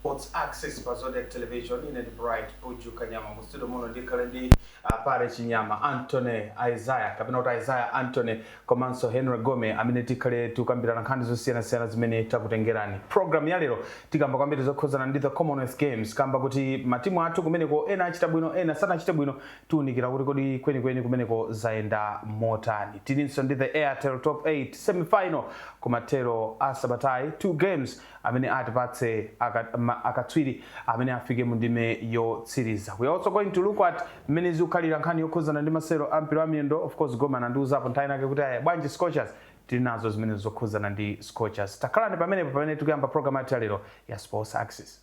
Sports Axis pa Zodiak Television ine ndi Bright Buju Kanyama mu studio muno ndikhale ndi uh, Pare Chinyama Anthony Isaiah kapena kuti Isaiah Anthony komanso Henry Gome amene tikhale tikukambirana nkhani zosiyanasiyana zimene takutengerani. Program ya lero tikamba kwambiri zokhuzana ndi the Commonwealth Games kamba kuti matimu athu kumeneko ena achita bwino ena sanachite bwino tiunikira kuti kodi kwenikweni kumeneko zayenda motani. Tilinso ndi the Airtel Top 8 semi final kumathero a sabatayi two games amene atipatse aka, ma, akatswiri amene afike mu ndime yotsiriza. We also going to look at mmene zikukhalira nkhani yokhuzana ndi masewero a mpira wa miyendo. Of course Gome anandiuzapo nthawi inake kuti aya bwanji Scorchers tili nazo zimene zokhuzana ndi Scorchers. Takhalani pomwepo pamene tikuyamba program yathu ya lero ya Sports Axis.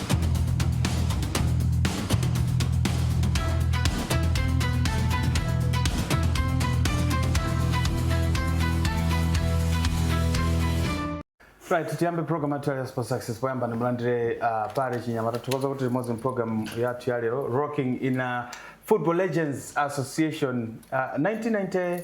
Right, tiyambe program yathu ya Sports Axis poyamba ndimulandire uh, Pare Chinyama tathokoza kuti tili limodzi program yathu ya lero Rocking in a Football Legends Association uh, 1990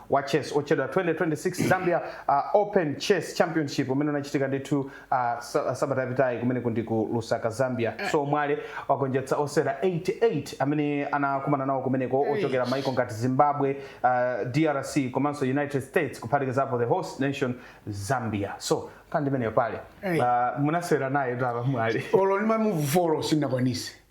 wa chess otchedwa 2026 Zambia uh, Open Chess Championship umene unachitika ndithu uh, sa- uh, sabata yapitayi kumeneku ndi ku Lusaka Zambia so Mwale wagonjetsa osewera 88 amene anakumana nawo kumeneko ochokera maiko ngati Zimbabwe uh, DRC komanso United States kuphatikizapo the host nation Zambia so kandi imeneyo Pare Hey. uh, munasewera naye tamva Mwale olo ndimamuvolo sindinakwanise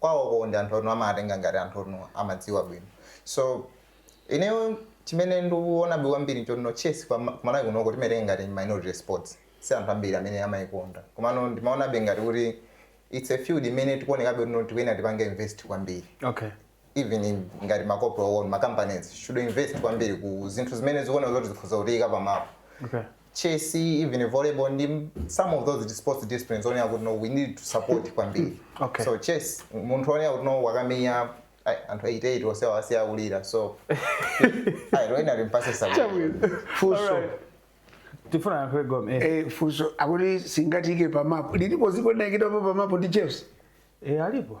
kwawoko ndi anthu anu amawatenga ngati anthu oti amadziwa bwino so ineyo chimene ndikuonabe kwambiri nchonno chess kwa ma- kumalawi kunoko timaitenga ngati minority sports si anthu ambiri amene amaikonda komano ndimaonabe ngati kuti its a field imene tikuonekabe kuti tikuyenera tipange invest kwambiri okay even in, ngati ma corporate ma companies should invest kwambiri ku zinthu zimene zikuona zoti zikhoza kutiyika pamapo okay chess even volleyball ndi some of those sports disciplines onena kuti no we need to support kwambiri Okay. so chess munthu onena kuti no wakamenya ai, anthu 88 onse awasiya akulira so ayi loyena limpase sakulira Chabwino. Funso. Alright. Tifuna yankho Gome. Eh. Eh, funso lakuti singatike pamapo lilipo dziko linayikidwapo pamapo ndi chess Eh alipo.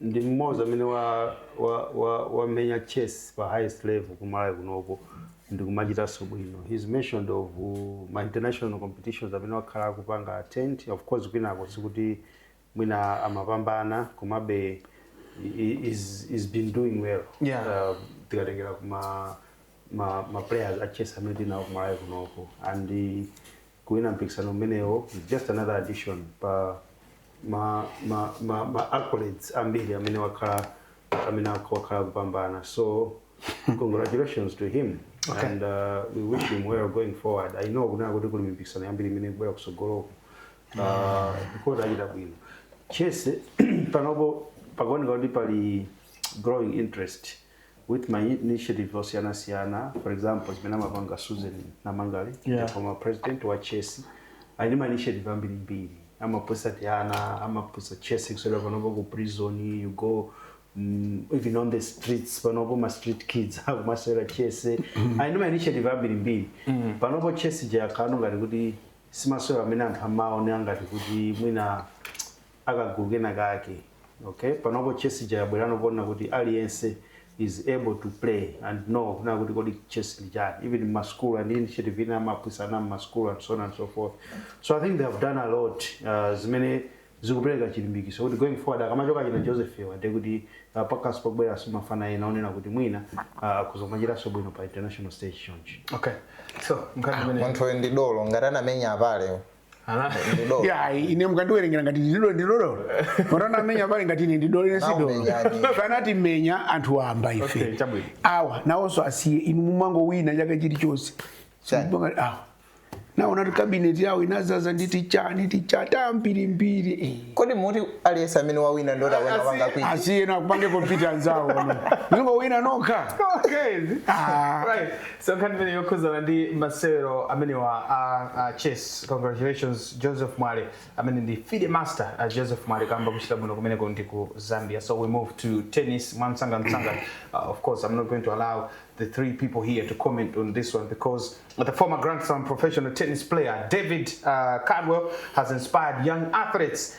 ndi mmodzi amene wa wa wa wamenya chess pa highest level ku Malawi kunoko ndikumachitanso bwino he's mentioned of uh, ma international competitions amene wakhala akupanga attend of course kwinako sikuti mwina amapambana komabe i- i- he's been doing well Yeah. uh, tikatengera kuma ma, ma players a chess amene tili nawo ku Malawi kunoko and uh, Kuwina mpikisano umenewo is just another addition pa ma, ma, ma, ma accolades ambiri amene wakhala amene ak- wakhala kupambana so congratulations to him Okay. and uh, we wish him well going forward i know kuti kuli mipikisano yambiri imene ikubwera kusogoloko uh, akachita bwino chese panopo pakuoneka kuti pali growing interest with ma initiative osiyana siyana for example zimene amapanga Susan Namangale yeah. the former president wa chess ali ndi ma initiative ambiri mbiri amaphunzitsa tiana amaphunzitsa chess kusewera panopo ku prison you go mm, even on the streets panopo ma street kids akumasewera chess ali ndi ma initiative ambiri mbiri panopo chess ija ikuoneka ngati kuti simasewero amene anthu amaona ngati kuti mwina akagulu kena kake okay panopo chess ija yabwera ponena kuti aliyense is able to play and know kunena kuti kodi chess ndi chani even in masukulu and initiative ina amapikisana mmasukulu and so on and so forth so i think they have done a lot uh, zimene zikupereka chilimbikitso kuti going forward akamachoka achina joseph awa ndiye kuti uh, pakas pakubwera so mafana ena onena kuti mwina uh, akuzamachitanso bwino pa international stage chonchi Okay. So, mkati mene. munthuyu ndi dolo ngati anamenya apale Ndidolo. ya ine mukandiwerengera ngati ndidolo ndidolo matana amenya apale ngati ine ndidolo ine sidolo Naumenyadi. anatimenya anthu wamba Okay, ife chabwino. awa nawonso asiye inu mumangowina chaka chilichonse Chani? Sibanga- awa anaona kuti kabineti yawo inazaza ndi tichani tichata mbirimbiri eh. kodi muti aliyense amene wawina ndota wena Asi- wanga kwiti asiye nakupange compete anzawo azingowina nokha Okay. Ah. Right. so nkhani imene yokhudzana ndi masewero amenewa a, a chess congratulations joseph mwale amene ndi fide master uh joseph mwale kamba kuchita bwino kumeneko ndi ku zambia so we move to tennis mwamsanga msanga uh, of course i'm not going to allow the three people here to comment on this one because the former grand slam professional tennis player david uh, caldwell has inspired young athletes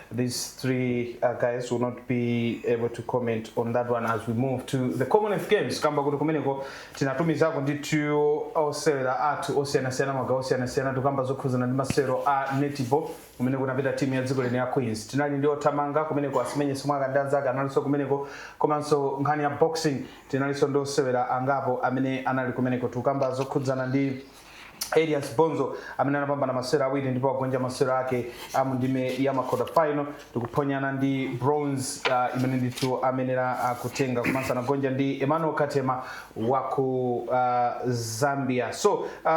these three uh, guys will not be able to comment on that one as we move to the commonwealth games kamba kuti kumeneko tinatumizako ndithu osewera athu osiyanasiyana magawo osiyanasiyana tikamba zokhuzana ndi masewero a netball kumene kunapita timu ya dziko lino ya queens tinali ndi othamanga kumeneko asimenye simwaka ndi anzake analinso kumeneko komanso nkhani ya boxing tinalinso ndi osewera angapo amene anali kumeneko tikamba zokhudzana ndi Elias Bonzo amene anapambana masewero awiri ndipo wagonja masewero ake a mu ndime ya ma quarter final ndikuphonyana ndi bronze uh, imene ndithu amayenera uh, kutenga komanso anagonja ndi Emmanuel Katema wa ku uh, Zambia so uh,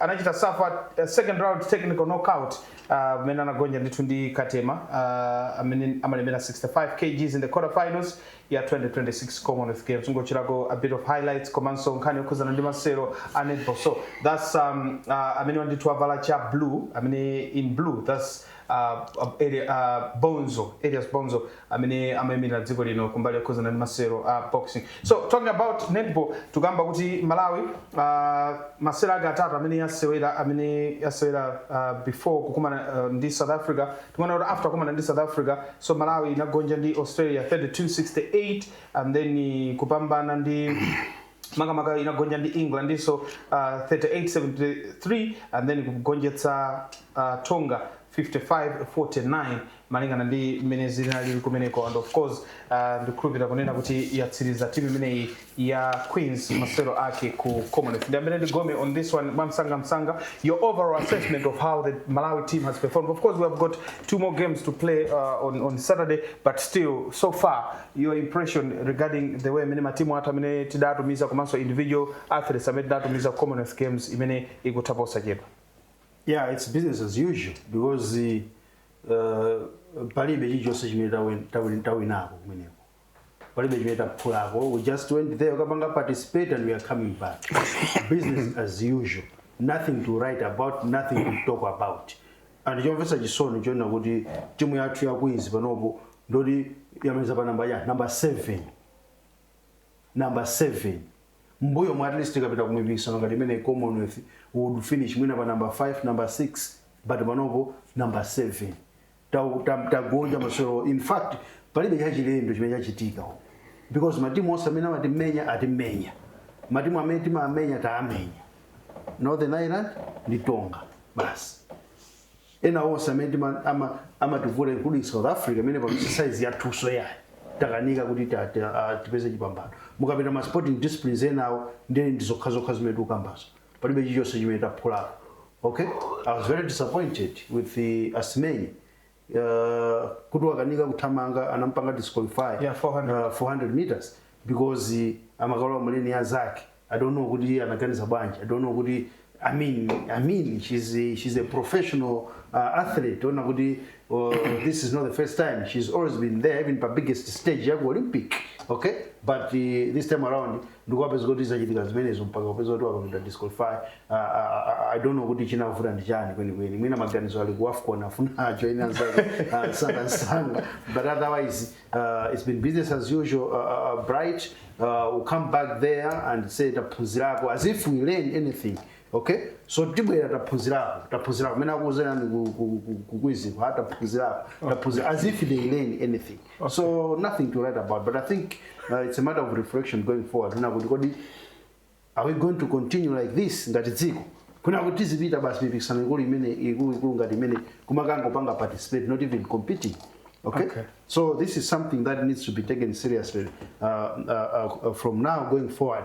anachita suffer uh, second round technical knockout amene uh, anagonja ndithu ndi Katema uh, amene amalemera 65 kgs in the quarter finals ya 2026 Commonwealth Games kungochitako a bit of highlights komanso nkhani yokhudzana ndi masewero a netball so that's um, uh, amene wandithu wavala cha blue amene in blue that's uh, uh, elias, uh, bonzo elias bonzo amene amayimirira dziko lino kumbali yokhudzana ndi masewero a boxing so talking about netball tikukamba kuti malawi uh, masewero ake atatu amene yasewera amene yasewera uh, before kukumana uh, ndi south africa timaona kuti after kukumana ndi south africa So Malawi inagonja ndi Australia 32 68 and then kupambana ndi makamaka inagonja ndi Englandinso uh, 38-73 and then kugonjetsa uh, Tonga 55-49 malingana ndi mmene zinali kumeneko and of course uh, ndikhulupira kunena kuti yatsiriza timu imeneyi ya Queens masewero ake ku Commonwealth. Ndiyambire ndi Gome on this one mwamsanga msanga your overall assessment of how the Malawi team has performed. Of course we have got two more games to play uh, on, on Saturday but still so far your impression regarding the way amene matimu athu amene tidatumiza komanso individual athletes amene tidatumiza Commonwealth Games imene ikutha posachedwa. Yeah, it's business as usual because uh, palibe chilichonse chimene tawinako kumeneko palibe chimene taphulako we just went there kukapanga participate and we are coming back business as usual nothing to write about nothing to talk about and chomvetsa chisoni chonena kuti timu yathu ya queens panopo ndoti yamaliza pa namba ya namba 7 number 7 mbuyo mwa at least tikapita ku mipikisano ngati imeneyi commonwealth we'd finish mwina pa number 5 number 6 but panopo number 7 tau- tam- tagonja masewero in fact palibe chachilendo chimene chachitika uku. because matimu onse amene amatimenya atimenya matimu amene timamenya taamenya northern ireland ndi tonga basi ena onse amene tima- ama- amativuta including south africa imene pa exercise yathuso ayi takanika kuti ta- ta- ah, tipeze chipambano mukapita ma sporting disciplines enawo ndiye ndi zokhazokha zimene tikukambazo palibe chilichonse chimene taphulapo okay i was very disappointed with the asmei uh, kuti wakanika kuthamanga anampanga disqualify Yeah, 400. uh, 400 meters because uh, amakalowa muleni ya zake i don't know kuti anaganiza bwanji i don't know kuti i mean i mean she's a, she's a professional uh, athlete ona kuti uh, this is not the first time she's always been there even pa biggest stage yaku olympic okay but uh, this time around ndikupezeka kuti zachitika zimenezo mpaka kupeza kuti wapangidwa disqualify uh, uh, uh, i don't know kuti chinavuta ndi chani kwenikweni mwina maganizo ali ku wafcon afuna ajoine anzake uh, msanga msanga but otherwise uh, it's been business as usual uh, uh, uh, bright uh, we come back there and say taphunzirako as if we learn anything okay so tibwera taphunzirako taphunzirako mene akuuzerani kukwiziko ha taphunzirako taphunzira as if they learn anything Okay. So nothing to write about, but I think uh, it's a matter of reflection going forward. Kuna kuti kodi are we going to continue like this ngati dziko? Kuna kuti tizipita basi mipikisano ikulu imene ikulu ikulu ngati imene kumakangopanga participate not even competing. Okay? Okay. So this is something that needs to be taken seriously uh, uh, uh, from now going forward.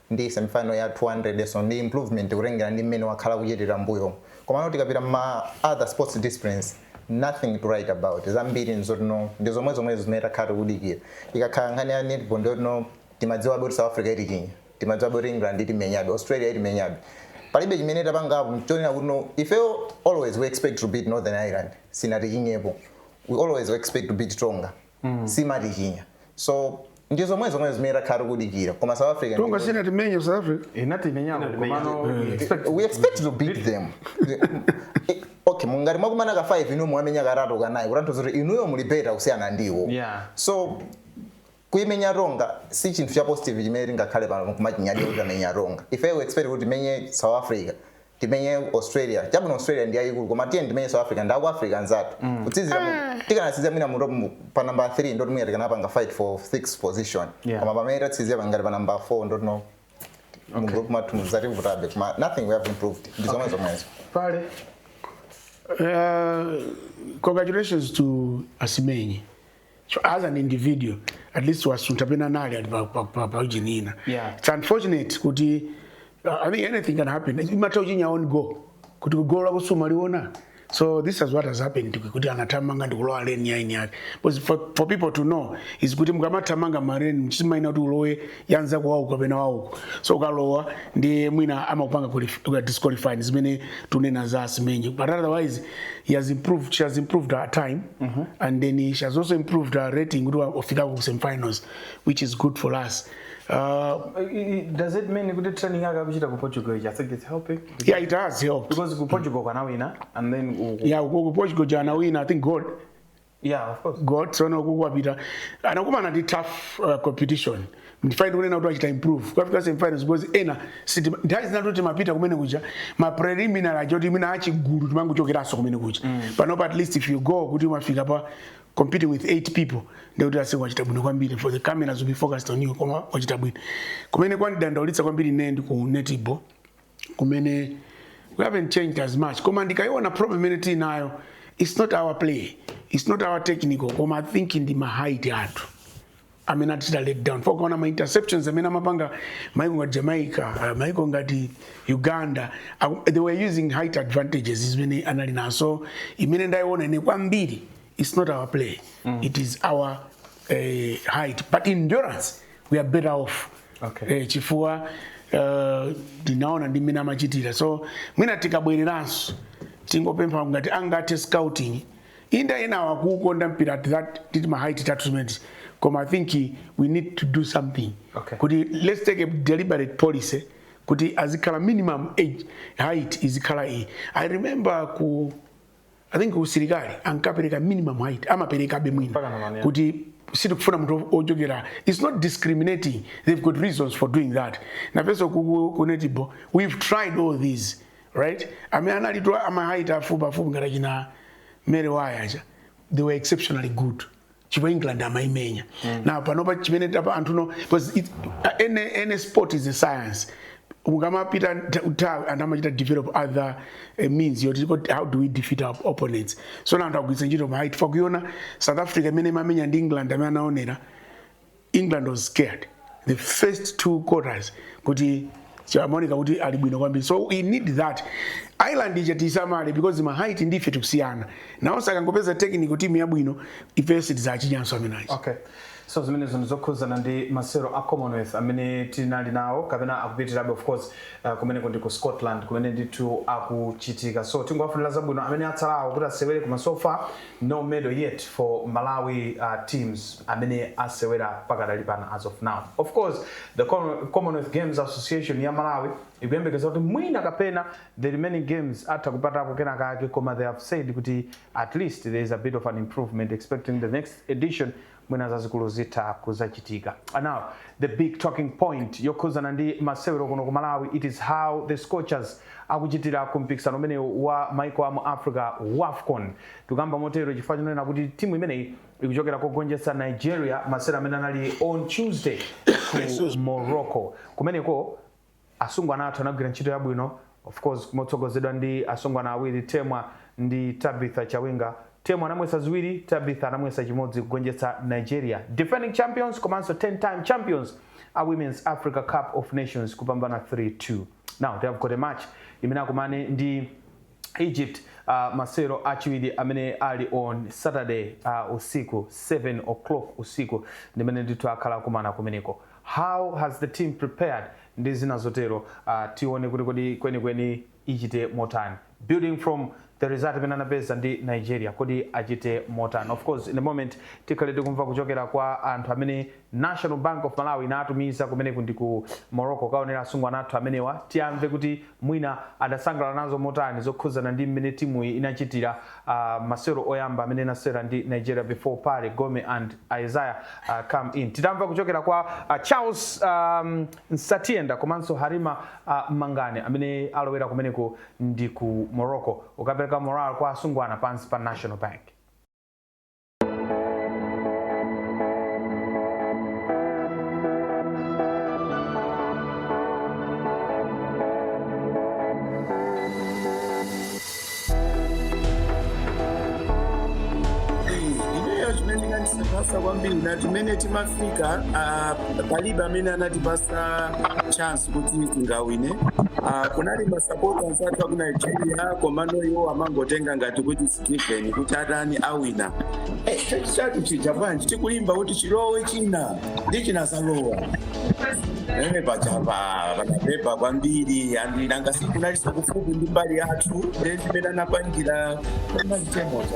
ndi semi final ya 200 so ndi improvement kutengera ndi mmene wakhala akuchitira mmbuyomu komano tikapita mma other sports disciplines nothing to write about zambiri nzoti no ndi zomwezomwezo zimene takhala tikudikira ikakhala nkhani ya netball ndiyoti no timadziwabe kuti south africa itichinya timadziwabe kuti england itimenyabe australia itimenyabe palibe chimene tapangapo chonena kuti no ifeyo always we expect to beat northern ireland sinatichinyepo we always expect to beat tonga sinatichinya so ndi zomwe zomwe zimene takhala tikudikira koma south africa tonga ndi- sinatimenye ku south africa inatimenyako komano we expect- we expect to beat them Eh, okay mungati mwakumana ka 5 inuyo mwamenya katatu kanayi kutanthauza kuti inuyo muli better kusiyana ndi iwo Yeah. so kuimenya tonga si chinthu cha positive chimene tingakhale pano kumachinyadira kuti tamenya tonga ife we expect kuti timenye south africa timenye australia chabwino australia ndi yayikulu koma tiyeni timenye south africa ndi aku africa anzathu tikanatsiriza mu- tikanatsiriza mwina mu top mu- pa namba 3 nde kuti mwina tikanapanga fight for 6 position Yeah. koma pamene tatsiriza pangati pa namba 4 nde kuti no mu group mwathu muzativutabe koma nothing we have improved ndi zomwe zomwezo kale Uh, congratulations to Asimenye. So as an individual, at least wasuntha pena nali ali pa pa pa pa ujeni ina. Yeah. It's unfortunate kuti uh, I think anything can happen. Imatha ujeni ya on go. Kuti kugola kusuma liona. So this is what has happened to kuti anathamanga ndikulowa lane ya eni ake. Because for, for people to know is kuti mukamathamanga ma lane mchima ina kuti ulowe ya mzako wauko kapena wauko so ukalowa ndi mwina amakupanga qualif- kukupanga disqualify ndi zimene tikunena za asimenye but otherwise she has improved she has improved her time and then she has also improved her rating kuti wafika ku semifinals which is good for us uh, does it mean kuti training yake akuchita ku portugal ija i think it's helping yeah it has helped because ku portugal kwanawina and then u- yeah ukoko portugal kuja anawina i think gold Yeah, of course. gold tsono uku wapita anakumana ndi tough uh, competition nde that's why ndikunena kuti wachita improve kukafika semifinals because ena sitima- nthawi zina zoti timapita kumene kuja ma preliminary aja kuti mina achigulu timangochokeranso kumene kuja panopa at least if you go kuti umafika pa competing with eight people ndekuti aise wachita bwino kwambiri for the cameras will be focused on you koma wachita bwino kumene kwandidandaulitsa kwambiri ine ndi ku netball kumene we haven't changed as much koma ndikayiona problem imene tili nayo it's not our play it's not our technical koma i think ndi ma height athu amene atichita let down for ukaona ma interceptions amene amapanga maiko ngati jamaica uh, maiko ngati uganda uh, they were using height advantages zimene anali nazo imene ndayiona ine kwambiri it's not our play mm. it is our uh, height but endurance we are better off Okay. eh, chifukwa eh, ndinaona ndi mmene amachitira so mwina tikabwereranso tingopempha ngati angathe scouting ndi ana ena akukonda mpira at that nditi ma height athu zimenezi koma i think we need to do something Okay. kuti let's take a deliberate policy kuti azikhala minimum age height izikhala iyi i remember ku i think usilikali ankapereka minimum height amaperekabe mwina Mpaka ndi pano. kuti sitikufuna munthu ochepera its not discriminating they've got reasons for doing that nafenso ku netball we've tried all these height amene analipo a ma height afupi afupi ngati achina mary waya aja they were exceptionally good chipo england amaimenya mm. nde panopa chimene tapa anthu no because it, uh, any, any sport is a science ukamapita nthawi anthu amachita develop other uh, means yoti how do we defeat our opponents so nde anthu agwiritsa ntchito ma height ifa kuiona south africa imene imamenya ndi england amene anaonera england was scared the first two quarters kuti chamaoneka kuti ali bwino kwambiri so we need that island ija tisamale because mahait ndife tikusiyana nawonso akangopeza technical team yabwino ifeyo sitidzachinyanso amenaji okay so zimenezo ndi zokhudzana ndi masewero a commonwealth amene tinali nawo kapena akupitirabe of course uh, kumeneko ndi ku scotland kumene ndithu akuchitika so tingowafunira zabwino amene atsalawo kuti asewere koma so far No medal yet for Malawi teams amene asewera pakadali pano as of now. Of course the Commonwealth Games Association ya Malawi ikuyembekeza kuti mwina kapena the remaining games atha kupatako kena kake koma they have said kuti at least there is a bit of an improvement expecting the next edition mwina zazikulu zitha kuzachitika and now the big talking point yokhudzana ndi masewero kuno ku malawi it is how the scorchers akuchitira ku mpikisano umenewu wa maiko a mu africa wafcon tikukamba motero chifukwa chonena kuti timu imeneyi ikuchokera kogonjetsa nigeria masewero amene anali on tuesday ku morocco kumeneko Asungwana athu anagwira ntchito yabwino of course motsogozedwa ndi asungwana awiri Temwa ndi Tabitha Chawinga. Temwa anamwetsa ziwiri, Tabitha anamwetsa chimodzi kugonjetsa Nigeria, defending champions komanso 10 time champions a Women's Africa Cup of Nations kupambana 3, 2. Now they have got a match imene akumane ndi. Egypt masewero achiwiri amene ali on Saturday usiku 7:00 usiku ndimene ndithu akhala akumana kumeneko how has the team prepared ndi zina zotero tione kuti kodi kwenikweni ichite motani building from the result imene anapeza ndi Nigeria kodi achite motani of course in a moment tikhale tikumva kuchokera kwa anthu amene National Bank of Malawi inatumiza kumeneko ndi ku Morocco kukaonera asungwana athu amenewa. Tiamve kuti mwina adasangalala nazo motani zokhudzana ndi mmene timuyi inachitira uh, masewero oyamba amene inasewera ndi Nigeria before Pare Gome and Isaiah uh, come in. Timve kuchokera kwa uh, Charles um, Msatienda komanso Halima uh, Mangani amene alowera kumeneko ndi ku Morocco kukapereka morale kwa asungwana pansi pa National Bank. ineyo chimene chinandisangalatsa kwambiri nthawi imene timafika ah, palibe amene anatipatsa chance kuti tingawine Ah, kunali masapota anzathu aku nigeria komano iwo amangotenga ngati kuti given kuti atani awina chatu chija bwanji tikulimba kuti chilowe china ndi chinazalowa ena pachapa panapepuka kwambiri andi nanga sikunali kufupi ndi mbali yathu nde zimene anapangira mazitemoza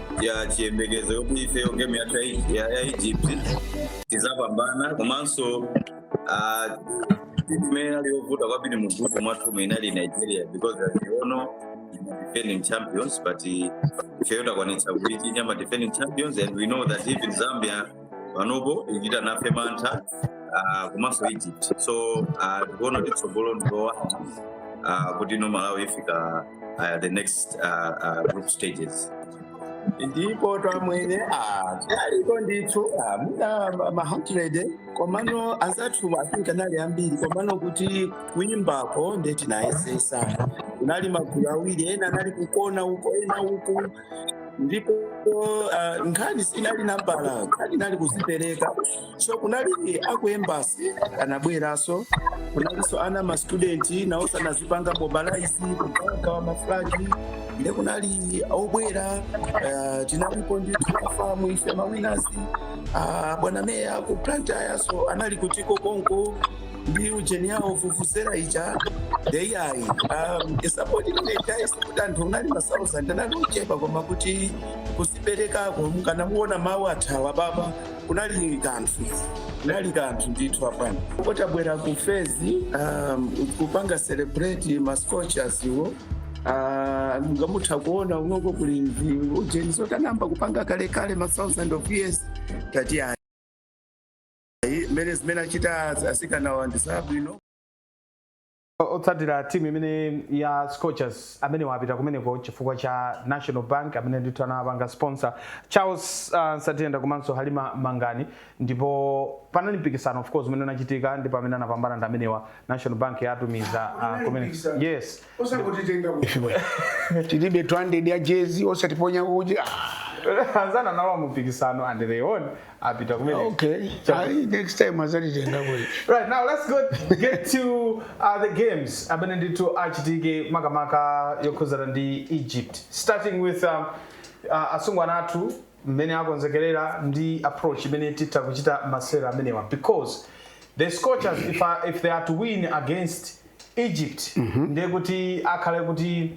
ya chiyembekezo yoti ifeyo game yathu ya Egy- ya ya egypt tizapambana komanso ah, timu imene ali yovuta kwambiri mu group mwathumu inali nigeria because as you all know defending champions but ifeyo takwanitsa kuichinya ma defending champions and we know that even zambia panopo ikuchita nafe mantha ah, komanso egypt so ah, tikuona kuti tsogolo ndi lowala ah, kutino malawi ifika ah, the next ah, ah, group stages ndipo amwenye ah, aliko ndithu ah, muna ma- ma 100 komano anzathu asinka anali ambiri komano kuti kuyimbako nde tinayesesa kunali magulu awiri ena anali kukona uko ena uku ndipo ah, nkhani sinali nambala nkhani inali kuzipereka so kunali aku embassy anabweranso kunalinso ana ma student nawonso anazipanga mobilize kugawagawa maflagi nde kunali obwera ah, tinalipo ndi timafans ife mawinazi ah, bwana meya ku blantyre so anali kuti konko ndi ujeni yawo vuvuzela ija nde ayi um, sapoti ine ija sikuti anthu anali ma thousand anali ochepa koma kuti kuziperekako mukanamuona mawu athawa apapa kunali kanthu kunali kanthu ndithu apa nkutabwera ku fezi um, kupanga celebrate ma scorchers iwo Ah, mungathe kuona kunoko kuli ndi ujeni zoti anayamba kupanga kalekale ma 1000 of years tati ayi Ayi, zimene zimene achita asikanawa ndi zabwino otsatira timu imene ya scorchers amenewa apita kumeneko chifukwa cha national bank amene ndithu anawapanga sponsor charles uh, satenda komanso halima mangani ndipo panali mpikisano of course umene unachitika ndipo amene anapambana ndi amenewa national bank yatumiza uh, kumeneko yes osangotitenga ku- ife bwana tilibe 200 ya jezi osatiponya uji Ah, anachita nawo mpikisano and they won apita kumeneko okay Ayi, next time azatitenga kuli Right now, let's go get to uh, the games. Amene ndithu achitike makamaka okhudzana ndi Egypt. Starting with um, uh, asungwana athu mmene akonzekerera ndi approach imene titha kuchita masewera amenewa because the Scorchers if, I, if they are to win against Egypt ndiye kuti zikhale kuti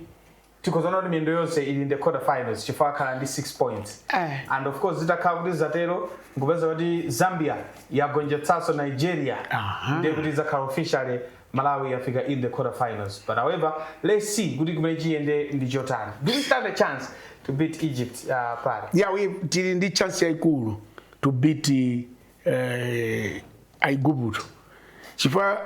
tikhoza kunena kuti miyendo yonse ili in the quarter finals chifukwa akhala ndi 6 points Eh. and of course zitakhala kuti zatero nkupeza kuti zambia yagonjetsanso nigeria Aha. ndiye kuti zakhala officially malawi yafika in the quarter finals but however let's see kuti kumene chiyende ndi chotani do we stand a chance to beat egypt uh, pali yeah, we, tili ndi chance yaikulu to beat eh, aiguputo chifukwa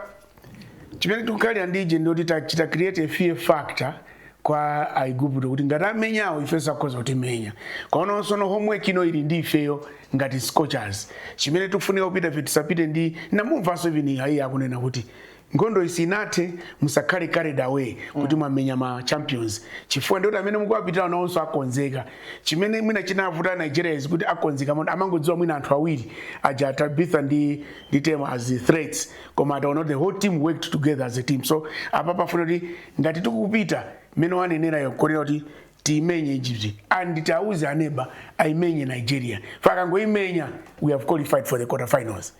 chimene tikukhalira ndi edge ndoti tachita create a fear factor kwa aiguputo kuti ngati amenyawo ife sakhoza kutimenya koonanso koma homework ino ili ndi ifeyo ngati scorchers chimene tikufunika kupita, ife tisapite. ndinamumvanso even iye akunena kuti Nkhondoyi sinathe, musakhale carried away kuti mwamenya ma champions chifukwa ndi oti amene mukuwapitirawo nawonso akonzeka. Chimene mwina chinavuta Nigeria is kuti akonzeka moti amangodziwa mwina anthu awiri aja Tabitha ndi ndi Temwa as threats koma ataona kuti the whole team worked together as a team so apa pafuna kuti ngati tikupita mmene wanenerayo kulongera kuti tiimenye Egypt and tiauze aneba aimenye Nigeria fa akangoimenya we have qualified for the quarter finals.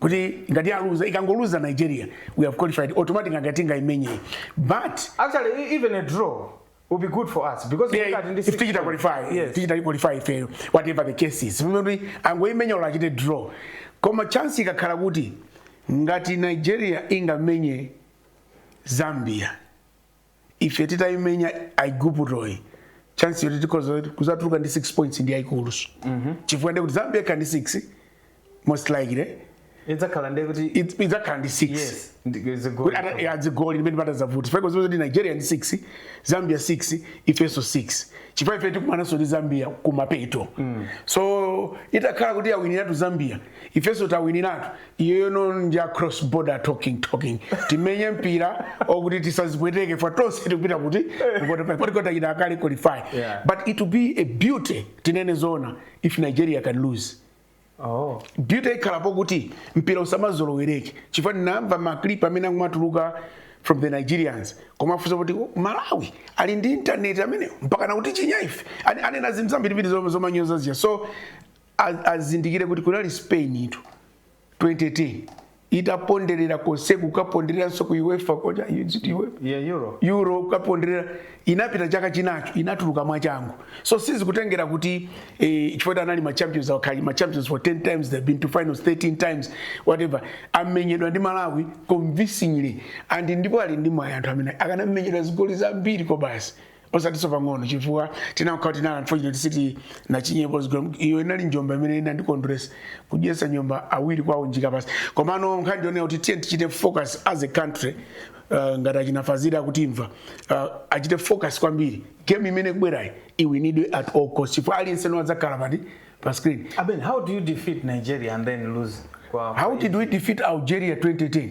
kuti ngati aluza ikangoluza nigeria we have qualified automatic ngati ingaimenye but actually e- even a draw would be good for us because yeah, ngati ndi if six tichita points. qualify yes tichita qualify ifeyo whatever the case is kuti angoimenya olo achite draw koma chance ikakhala kuti ngati nigeria ingamenye zambia ife titaimenya aiguputoyi chance yoti tikhoza kuzatuluka ndi 6 points ndi yayikuluso chifukwa ndekuti zambia ikhala ndi 6 most likely idzakhala ndiye kuti It- idzakhala ndi 6 yes ndi- zigoli. Kuti ata- ya zigoli ndi pamene patazavute fa ukudziwa kuti nigeria ndi 6 zambia 6 ifenso 6 chifukwa ife tikumananso ndi zambia kumapeto so itakhala kuti yawiniratu zambia ifenso tawiniratu iyoyo no ndi a cross border talking talking timenye mpira okuti tisazipweteke fa tonse tikupita kuti poti tachita kale qualify Yeah. but it will be a beauty tinene zoona if nigeria can lose Oh. beauty ikhalapo kuti mpira usamazolowereke chifukwa ndinamva maclip amene amatuluka from the nigerians kumafunsa kuti "Oh, malawi ali ndi intaneti amenewo mpaka nakuti chinya ife Ane- anena zinthu zambirimbiri zom- zomanyoza zija so azindikire kuti kunali spain in 2010 itaponderera konseku kukapondereranso ku uefa koja is it uefa Yeah, Euro. euro kukaponderera inapita chaka chinacho inatuluka mwachangu so sizikutengera kuti eh, chifukwa anali ma champions akhala ma champions for 10 times they've been to finals 13 times whatever amenyedwa ndi malawi convincingly and ndipo ali ndi mwayi anthu amene akanamenyedwa zigoli zambiri kwabasi osatinso pang'ono chifukwa tinakhala tinali unfortunate sitinachinyepo zigolo iyo inali njomba imene inandikondweretsa kudyetsa njomba awiri kwawo njika pansi komano nkhani ndi yonena kuti tiye tichite focus as a country uh, ngati achina fazili akutimva uh, achite focus kwambiri game imene kubwerayi iwinidwe at all cost chifukwa aliyense niwadzakhala pati pa screen Aben, how do you defeat Nigeria and then lose? Kwa how did we defeat algeria 2010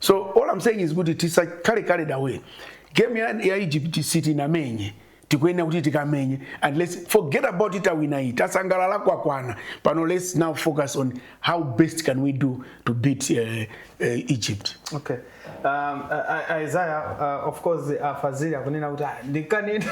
so all I'm saying is kuti tisakhale carried away game ya, ya egypt sitinamenye tikuyenera kuti tikamenye and let's forget about it tawina tasangalala kwakwana pano let's now focus on how best can we do to beat uh, uh, egypt okay um, uh, isaiah uh, of course afazili akunena kuti "Ah, ndikanena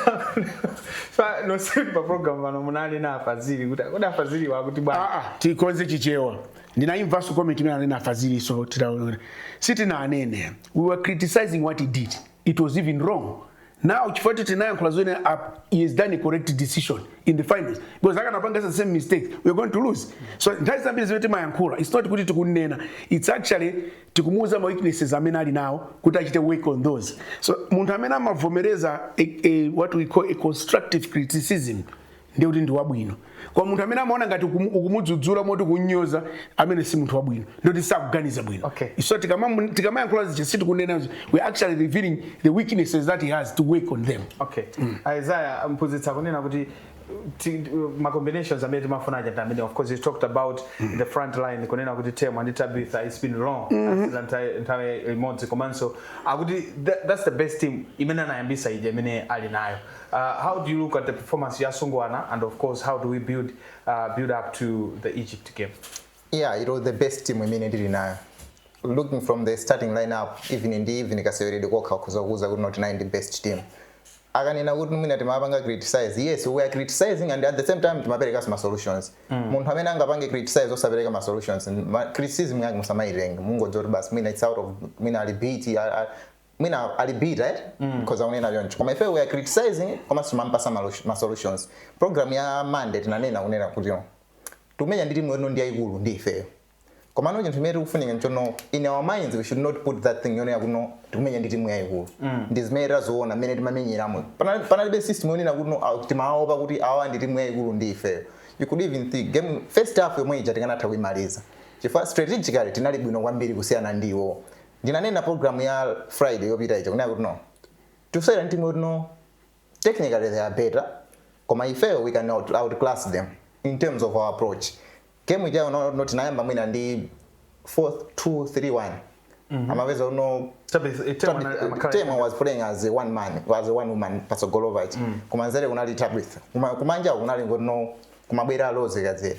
Pa- nonsenu pa program pano munanena afazili kuti kuti afazili akuti bwana Ah, ah, tikonze chichewa ndinaimvanso comment imene anena afazili so titaona sitinanene we were criticizing what he did it was even wrong now chifukwa kuti tinayankhula zoona he has done a correct decision in the finals because akanapanga the same mistake we are going to lose so nthawi zambiri zimene timayankhula it's not kuti tikunena it's actually tikumuuza ma weaknesses amene ali nawo kuti achite work on those so munthu amene amavomereza a, a, what we call a constructive criticism ndiye kuti ndi wabwino koma munthu amene amaona ngati ukumu- ukumudzudzula moti kunyoza amene si munthu wabwino ndikuti sakuganiza bwino Okay. so tikamamu- tikamayankhula zija sitikunena izo. we are actually revealing the weaknesses that he has to work on them okay isaiah mphunzitsi akunena kuti ti- ma combinations amene timafuna aja ndamene of course you talked about the front line kunena kuti temwa ndi tabitha it's been long asewera nthawi- nthawi imodzi komanso akuti tha- that's the best team imene anayambisa ija imene ali nayo Uh, how do you look at the performance ya asungwana and of course how do we build uh, build up to the Egypt game? Yeah, it was the best team imene tili nayo. Looking from the starting lineup even ndi even kaseweredwe kokha ukhoza kuuza kuti not nine the best team. akanena kuti mwina timapanga criticize yes we are criticizing and at the same time timapereka ma solutions mm. munthu amene angapange criticize osapereka ma solutions criticism yake musamaitenga mungodziwa kuti basi mwina it's out of mwina ali bitter mwina ali bitter eti mm. mukhoza kunena choncho koma ife we are criticizing komanso timampatsa ma solutions program ya monday tinanena kunena kuti tikumenya ndi timu yotino ndi yayikulu ndi ifeyo komano chinthu chimene chikufunika nchonena in our minds we should not put that thing yonena kuno tikumenya ndi timu yayikulu mm. ndi zimene taziona mmene timamenyeramo panalibe system yonena kuno ah, timawaopa kuti awa ndi timu yayikulu ndi ifeyo you could even think game first half yomwe ija tikanatha kuimaliza chifukwa strategically tinali bwino kwambiri kusiyana ndi iwowo ndinanena program ya friday yopita ija kunena kuti no tikusewera ndi timu yoti no technically they are better koma ifeyo we can out, outclass them in terms of our approach game ijayo no, no tinayamba mwina ndi 4 2 3 1 amapeza uno Chabe, eh, Temwa na- amakhala- Temwa was playing as a one man as a one woman pasogolopo kumanzere kunali tabitha Kuma- kumanja kunali ngono kumabwera Rose Kadzere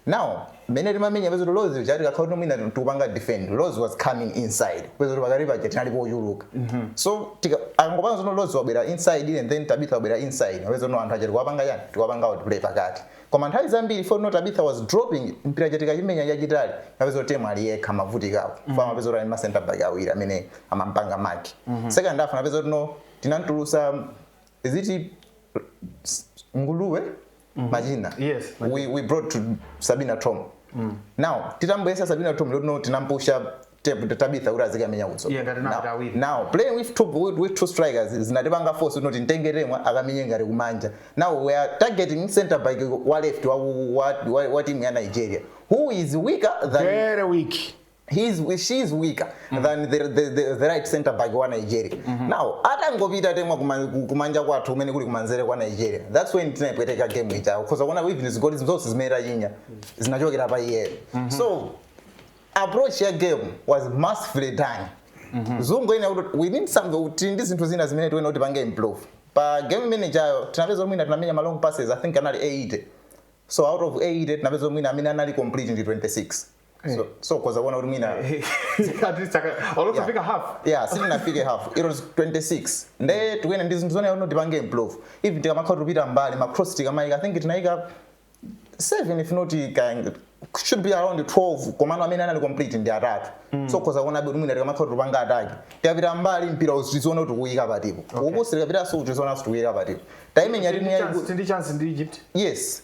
now mmene timamenya pezoti Rose uja tikakhala kuti mwina tikupanga defend Rose was coming inside pezoti pakati paja tinali pochuluka so tika- angopanga zonno Rose wabwera inside and then tabitha wabwera inside pezonno anthu aja tikuwapanga yani tikuwapanga outplay pakati koma nthawi zambiri for no tabitha was dropping mpira aja tikachimenya chachitali kapeza kuti temwa ali yekha amavutika chifukwa amapeza kuti ali ma center back awiri amene amampanga mark second half napeza kuti no tinamtulusa is it s- nguluwe machina Yes, we, we brought to sabina tom now titamboyesa sabina tom lotino tinampusha tep- tabitha kuti azikamenya kuso Iye ngati nati awiri. now playing with two, with, with two strikers zinatipanga force unoti ntenge temwa akamenye ngati kumanja now we are targeting center back wa left wa, wa, wa, wa team ya nigeria who is weaker than very weak he is, she is weaker mm. than the, the, the, the right center back wa Nigeria mm -hmm. now atangopita Temwa kumanja kwathu kumene kuli kumanzere kwa Nigeria that's when tinapweteka game ija because kuona even zigoli zonse zimene tachinya zinachokera pa iyeyo mm -hmm. so approach ya game was masterfully done mm -hmm. zinthu zina we need something tili ndi zinthu zina zimene tikuyenera kuti tipange improve pa game imene ijayo tinapeza mwina tinamenya ma long passes i think anali 80 so out of 80 tinapeza mwina amene anali complete ndi 26 so so ukhoza kuona kuti mwina At least aka- olosafika half yeah sitinafike half it was 26 nde tikuyenera ndi zinthu zonena kuti tipange improve even tikamakhala tikupita mbali ma cross tikamayika i think tinayika 7 if not ka- should be around 12 komano amene anali complete ndi atatu so ukhoza kuona kuti mwina tikamakhala tikupanga attack tikapita mbali mpira uziziona kuti tikuyika patipo ukusi tikapita so uziziona kuti tikuyika patipo timing ya timu Ndi chance- yayikulu ndi chance ndi egypt yes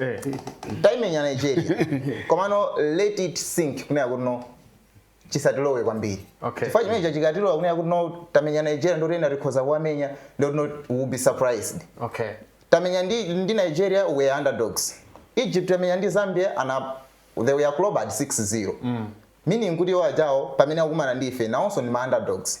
eh. taimenya nigeria komano let it sink kunena kuti no chisatilowe kwambiri okay. chifukwa chimenecho chikatilowa kunena kuti no tamenya nigeria nde kuti ena tikhoza kuwamenya nde kuti no we'll be surprised okay. tamenya ndi, ndi nigeria we were underdogs egypt tamenya ndi zambia and they were clubbed 6-0 mm. meaning kuti iwo ajawo pamene akumana ndi ife nawonso ndi ma underdogs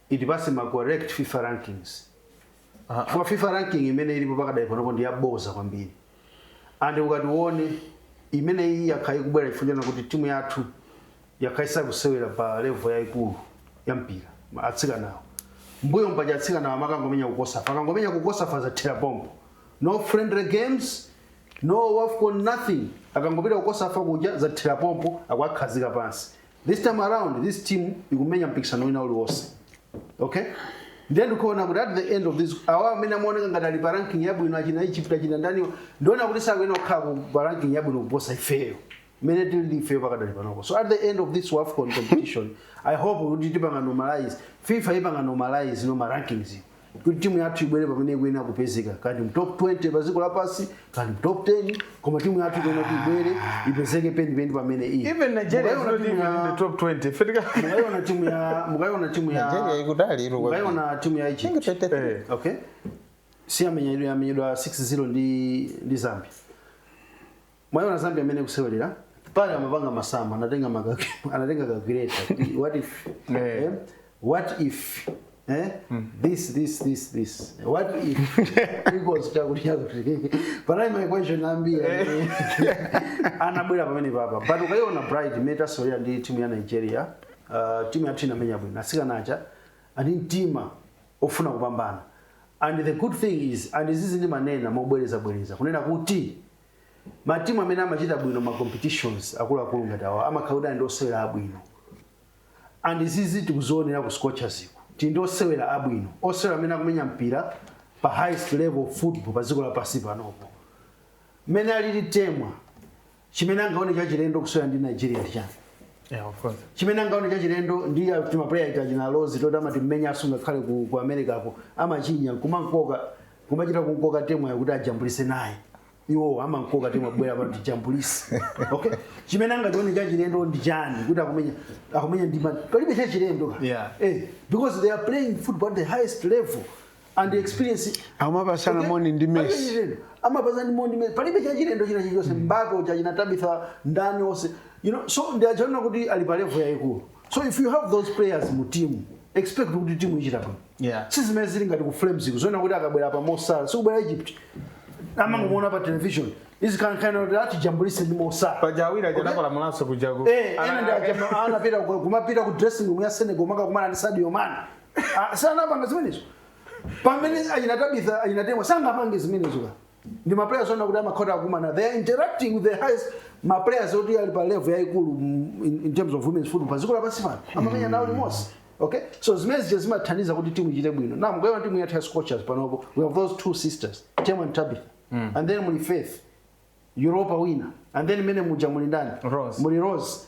itipatse ma correct fifa rankings chifukwa fifa ranking imene ilipo pakadali panopo ndi yaboza kwambiri and ukati uone imeneyi yakhala ikubwera chifukwa chana kuti timu yathu yakhala isakusewera pa level yayikulu ya mpira ma- atsikanawo mbuyo mpaja atsikanawo amakangomenya ku COSAFA akangomenya ku COSAFA zathera pompo no friendly games no wafcon nothing akangopita ku COSAFA kuja zathera pompo akuwakhazika pansi this time around this team ikumenya mpikisano wina uliwonse okay ndiye ndikuona kuti at the end of this awa amene amaoneka ngati ali pa ranking yabwino achina egypt achina ndaniwa ndikuona kuti sakuyenera kukhala ku- pa ranking yabwino kuposa ifeyo imene tili ifeyo pakadali panopo so at the end of this wafcon competition i hope kuti tipanga normalize fifa ipanga normalize no ma rankings kuti timu yathu ibwere pamene ikuyenera kupezeka kaya ndi mu top 20 pa dziko lapansi kaya ndi mu top 10 koma timu yathu ikuyenera kuti ibwere ipezeke penipeni pamene ili even nigeria is Mukaiona not timu even in ya- the top 20 Fetika- mukaiona timu ya mukaiona timu ya Nigeria ikudali ilo kwambiri. mukaiona timu ya Egypt Think 23. Eh, okay si amenyedwa amenyedwa 6-0 ndi ndi Zambia mwaiona zambia mmene ikusewelera pali amapanga masamu anatenga maka- anatenga calculator kuti what if Eh. eh, what if eh, this this this this what if equals chakuti chakuti panali ma equation ambiri amene anabwera pamenepapa but ukaiona bright mmene tasewelera ndi timu ya nigeria uh, timu yathu inamenya bwino atsikana aja ali ndi mtima ofuna kupambana and the good thing is and izizi ndimanena mobwerezabwereza kunena kuti ma team amene amachita bwino ma competitions akuluakulu ngati awa amakhala kuti ali ndi osewera abwino and izizi tikuzionera ku scorchers kuti tili ndi osewera abwino osewera amene akumenya mpira pa highest level of football pa dziko lapansi panopo mmene alili temwa chimene angaone chachilendo kusewera ndi nigeria ndi chani Yeah, of course. chimene angaone chachilendo nditi ma player ita chinalozi toti amatimenyanso ngakhale ku, ku america ko amachinya kumankoka kumachita kumkoka temwayo kuti ajambulise naye iwo amamkoka temwa bwera pano tijambulise okay chimene angachione chachilendo ndi chani kuti akumenya akumenya ndi ma- palibe chachilendo ka. Yeah. eh, because they are playing football at the highest level and the experience Amapasana moni ndi Palibe Messi. chachilendo. amapasana moni ndi Messi. palibe chachilendo china chilichonse mbapo cha china Tabitha ndani onse you know so ndi ana oti ali pa level yayikulu so if you have those players mu team expect kuti timu ichita bwino Yeah. si zimene zili ngati ku flames iko zoona kuti akabwera pa Mo Salah si kubwera egypt amangomuona pa television azikankhana kuti akajambulise ndi Mo Salah paja awiri aja anakola mulaso kuja ku Eh, ana- ena ndi aja- anapita ku- kumapita ku dressing room ya senegal kukakumana ndi sadio mane Ah, sanapanga zimenezo pamene a ina Tabitha a ina Temwa sangapange zimenezo ka ndi ma players onena kuti amakhala akumana they are interacting with the highest ma players oti ali pa level yaikulu mm, in, in terms of women's football pa dziko lapansi pano amamenya nawo limodzi okay so zimene zija zimathandiza kuti timu ichite bwino na mukaiona timu yathu ya scorchers panopo we have those two sisters Temwa and tabitha and then muli faith europa wina and then mene muja muli ndani Rose. muli rose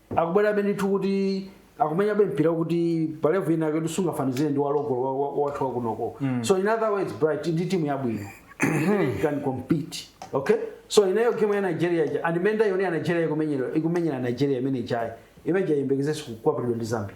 akubwerabe ndithu kuti akumenyabe mpira kuti pa level ina kuti sungafanizire ndi wa local wa- wa- wathu wakunoko so in other words bright ndi timu yabwino imene can compete okay so inali game ya nigeria ija and mmene ndaionera nigeria ikumenyera ikumenyera nigeria imene ijayi imene ija iyembekezeso kukwapulidwa ndi zambia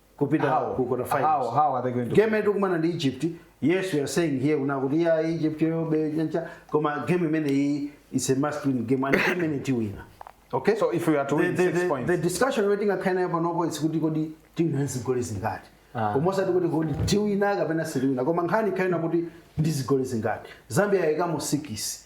kupita How? ku quarter finals How- how are they going to- game imene tikumana ndi egypt yes we are saying here kunena kuti ya egypt yobe chancha koma game imeneyi is a must win game and game imene tiwina okay So if we are to win the, the, six the, points. the discussion imene tingakhale nayo panopo is kuti kodi tiwina zigoli zingati Ah. koma osati kuti kodi tiwina kapena sitiwina koma nkhani ikhale yonena kuti ndi zigoli zingati zambia yayikamo sikisi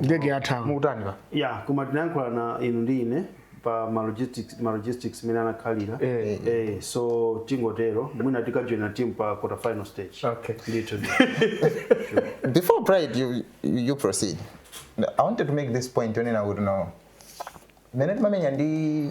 ndege yathawa mukutani pa ya koma tinayankhulana inu ndi ine pa ma logistics ma logistics imene anakhalira Eh. eh so tingotero mwina tikajoina team pa quarter final stage Okay. ndithu before pride you, you proceed i wanted to make this point yonena kuti no mmene timamenya ndi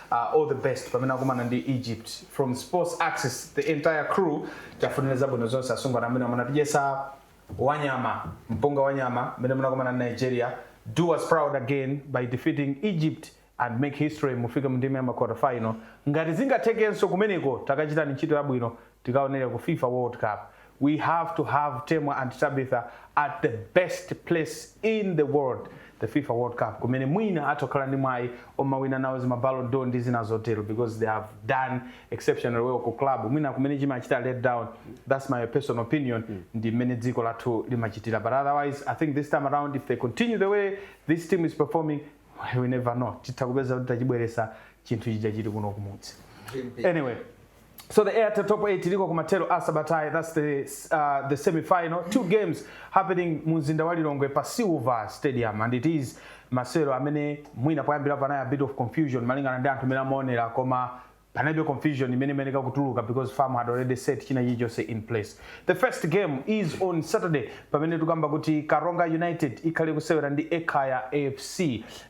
uh, all the best pamene akumana ndi egypt from sports axis the entire crew tiwafunire zabwino zonse asungwana amene munatidyetsa wanyama mpunga wanyama mmene munakumana ndi nigeria do us proud again by defeating egypt and make history mufike mu ndime ya maquarter final ngati zingathekenso kumeneko takachitani ntchito yabwino tikaonere ku fifa world cup we have to have temwa and tabitha at the best place in the world the fifa world cup kumene mwina atha kukhala ndi mwayi omawina nawo zima ballon d'or ndi zina zotero because they have done exceptional well ku club mwina kumene chimachita let down that's my personal opinion ndi mmene dziko lathu limachitira but otherwise i think this time around if they continue the way this team is performing we never know titha kupeza kuti tachibweretsa chinthu chija chili kuno kumudzi anyway So the Airtel Top 8 iliko kumathero a sabatayi that's the, uh, the semi-final two games happening mu mzinda wa Lilongwe pa Silver Stadium and it is masewero amene mwina poyambira panali a bit of confusion malingana ndi anthu amene amaonera koma panalibe confusion imene imayeneka kutuluka because FAM had already set china chilichonse in place the first game is on saturday pamene tikamba kuti karonga united ikhale kusewera ndi ekhaya fc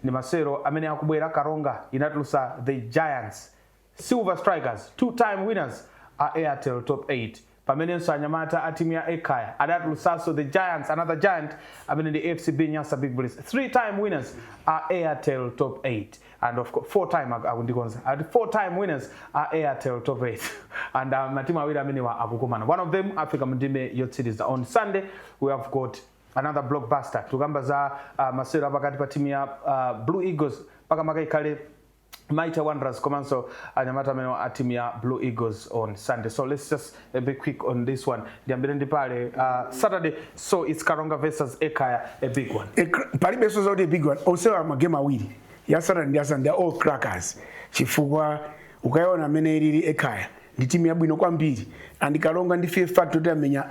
ndi masewero amene akubwera karonga inatulutsa the giants Silver Strikers, two time winners a Airtel Top 8 pamenenso anyamata a timu ya Ekhaya adatulutsanso the Giants, another giant amene ndi FCB Nyasa Big Bullets, three time winners a Airtel Top 8 and of course, four time ak- akundikonza ati four time winners a Airtel Top 8 and uh, matimu awiri amenewa akukumana one of them afika mu ndime yotsiriza on Sunday we have got another blockbuster tikukamba za uh, masewero apakati pa timu ya uh, Blue Eagles makamaka ikhale Mighty Wanderers komanso anyamata amene a timu ya Blue Eagles on Sunday. So let's just uh, be quick on this one. Ndiyambire ndi pale uh, Saturday so it's Karonga versus Ekhaya a big one. E, kr- palibenso zoti big one onsewa magemu awiri ya saturday ndi ya sunday are all crackers chifukwa ukayiona mmene ilili ekhaya ndi timu yabwino kwambiri and karonga ndi fear factor kuti amenya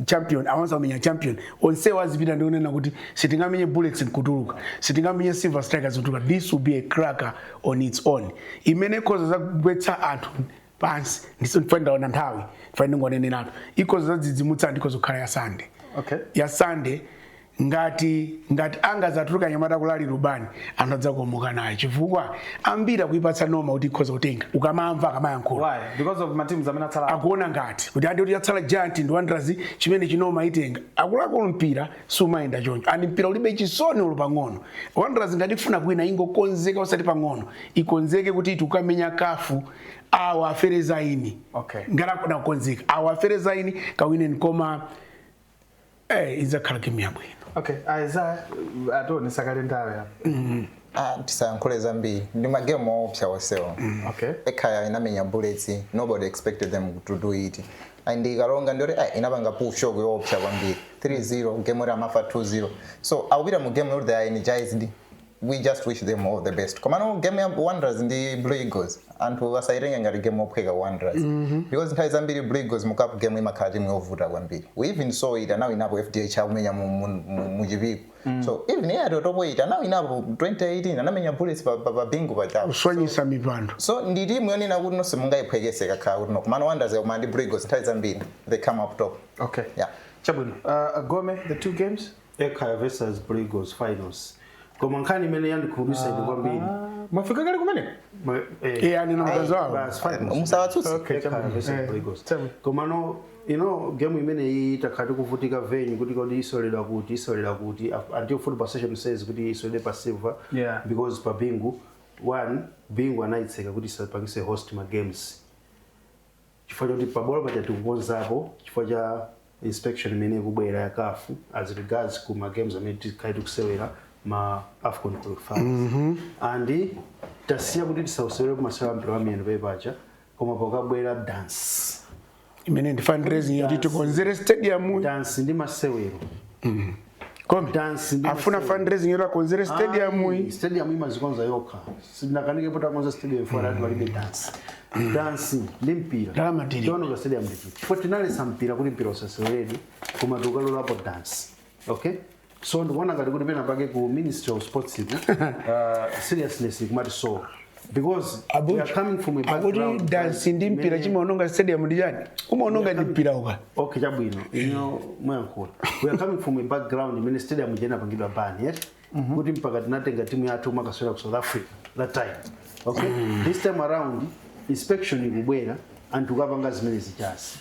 champion awanso akumenya champion onsewo azipita ndi onena kuti sitingamenye bullets nkutuluka sitingamenye silver strikers nkutuluka this will be a cracker on its own imene ikhoza zagwetsa anthu pansi ndiye ife ndaona nthawi ife ndingoneneratu ikhoza zadzidzimutsa anthu ikhoza kukhala ya sunday Okay. ya sunday ngati ngati angazatuluka anyamata ku Nalubani anthu adzakomoka naye chifukwa ambiri akuyipatsa noma kuti ikhoza kutenga ukamamva akamayankhula why because of matimu amene atsala akuona ngati kuti ati kuti yatsala giant ndi wanderers ndiyeno chinoma itenga akulakwa mpira sumayenda choncho and mpira ulibe chisoni olo pang'ono wanderers ngati ikufuna kuwina ingokonzeka usati pang'ono ikonzekere kuti tikukamenya CAF awa afere zaini Okay. ngati akufuna kukonzeka awa afere zaini kawineni koma Eh, idzakhala game yabwino okay Eyiza ationesa kale nthawi apa Ah, tisayankhule zambiri ndi magemu oopsa onsewo okay ekhaya inamenya bullets nobody expected them to do it and iKaronga ndiyoti ah, inapanga pull shock yoopsa kwambiri 3-0 game yoti amafa 2-0 so akupita mu game yoti they are energized we just wish them all the best komano game ya wanderers ndi blue eagles anthu asayitenge ngati game yophweka wanderers mm -hmm. because nthawi zambiri blue eagles mu cup game imakhala timu yovuta kwambiri we even saw it anawinapo fdh akumenya mu, mu, mu, mu Chipiku mm. so even iyi Airtel Top 8 anawinapo 2018 anamenya bullets pa, pa, pa bingu pajapo kuswanyisa mipando so ndi timu yonena kuti nonse mungayiphwekese kakakhala kuti no komano wanderers yakumana ndi blue eagles nthawi zambiri they come up top okay yeah chabwino uh, gome the two games Ekhaya versus Blue Eagles finals. Koma nkhani imene yandikhumudwitsa ine kwambiri. mwafika kale kumeneko Ma- eh, iye anena mkazi wawo basi finals. musawatsutse Okay, Ekhaya chabwino. versus Eh, Blue Eagles. chabwino. Koma no you know game imene iyi takhala tikuvutika venue kuti kodi iseweredwa kuti iseweredwa kuti Af- until football association says kuti iseweredwe pa silver Yeah. because pa bingu one bingu anayitseka kuti isapangise host ma games chifukwa choti pabwalo paja tikukonzapo chifukwa cha inspection imene ikubwera ya CAF as regards ku ma games amene tikhale tikusewera ma afcon qualifiers and tasiya kuti tisausewerepo masewera mpira wa miyendo pamene paja koma pakabwera dance imene ndi fundraising yoti tikonzere stadium dance ndi masewero Gome. Dance ndi Afuna masewero. fundraising yoti akonzere stadium Ayi, iyi. stadium imazikonza yokha sinakanike popeza akonza stadium ife tidati palibe dance dance ndi mpira Ndalama tili. chimaononga stadium ndi chiti chifukwa tinalesa mpira kuti mpira usaseweredwe koma tikukalolapo dance okay so ndikuona ngati kuti pena pake ku ministry of sports iku uh, seriousness ikumati so because we Abuchi, are coming from a akuti background dansi ndi mpira many- chimaononga stadium ndi chani chimaononga ndi mpira uka okay chabwino inu mwayankhula we are coming from a background imene stadium ija inapangidwa ban yet kuti mpaka tinatenga timu yathu kumakasewera ku south africa that time okay this time around inspection ikubwera anthu akapanga zimenezijazi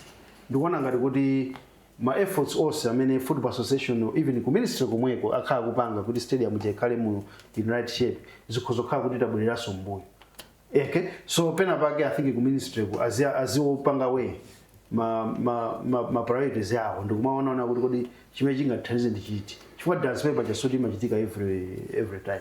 ndikuona ngati kuti ma efforts onse amene football association or even ku ministry komweko akhala akupanga kuti stadium ija ikhale mu in right shape zikhoza kukhala kuti tabwereranso mbuyo eke so pena pake i think ku ministry ku azi- aziwopanga weigh ma, ma, ma, ma priorities awo ndikumaonaona kuti kodi chimene chingathandize ndi chiti chifukwa transfer paja sikuti imachitika every, every time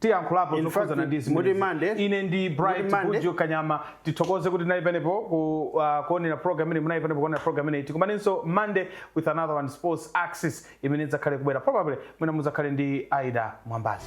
tiyankhulapo Inu zokhudzana fact ndi muti zimenezi. Monday ine ndi Bright Kanyama tithokoze kuti tinali penepo ku, uh, kuonera program imene munali penepo kuonera program imeneyi tikumanenso monday with another one sports access imene idzakhale kubwera probably mwina mudzakhale ndi aida mwambazi